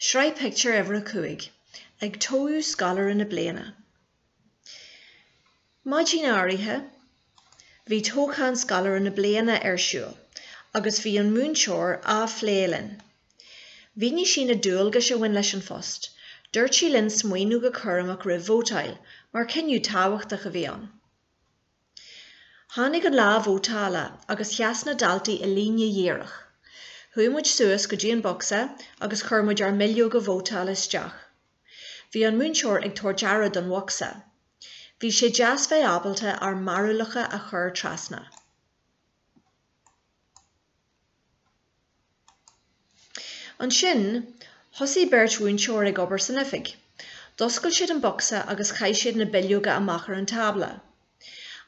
Sraith Pictiúr Uimhir a Cúig, Ag Toghadh Scoláire na Bliana Maidin áirithe bhí toghchán scoláire na bliana ar siúl agus bhí an múinteoir á phlé linn. Mhínigh sí na dualgais a bhain leis an phost. Dúirt sí linn smaoineamh go cúramach roimh vótáil mar cinneadh tábhachtach a bhí ann. Tháinig an lá vótála agus sheas na daltaí i líne dhíreach. Chuaigh muid suas go dtí an bocsa agus chuir muid ár mbileoga vótála isteach. Bhí an múinteoir ag tabhairt aire don bhocsa. Bhí sé deas bheith ábalta ár mbarúlacha a chur trasna. Ansin, thosaigh beirt mhúinteoir ag obair san oifig. D'oscail siad an bocsa agus chaith siad na bileoga amach ar an tábla.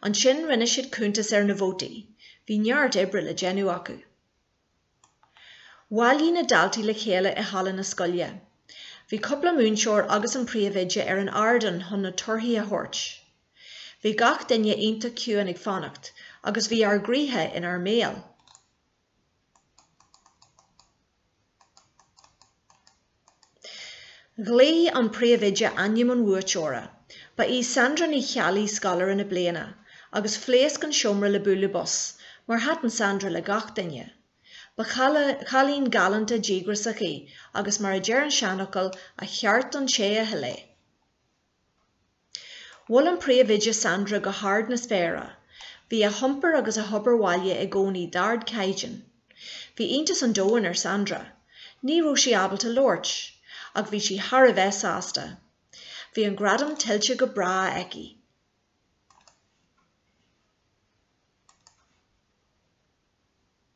Ansin, rinne siad cuntas ar na vótaí. Bhí neart oibre le déanamh acu. Bhailigh na daltaí le chéile i halla na scoile. Bhí cúpla múinteoir agus an príomhoide ar an ardán chun na torthaí a thabhairt. Bhí gach duine iontach ciúin ag fanacht agus bhí ár gcroíthe inár mbéal. Ghlaoigh an príomhoide ainm an bhuaiteora. Ba í Sandra Ní Cheallaigh scoláire na bliana agus phléasc an seomra le bualadh bos mar thaitin Sandra le gach duine. Ba chailín galánta díograsach í agus mar a deir an seanfhocal 'a cheart don té a thuill é'. Mhol an príomhoide Sandra go hard na spéire. Bhí a hiompar agus a hobair bhaile i gcónaí d'ardchaighdeán. Bhí iontas an domhain ar Sandra. Ní raibh sí ábalta labhairt. Ach bhí sí thar a bheith sásta. Bhí an gradam tuillte go breá aici.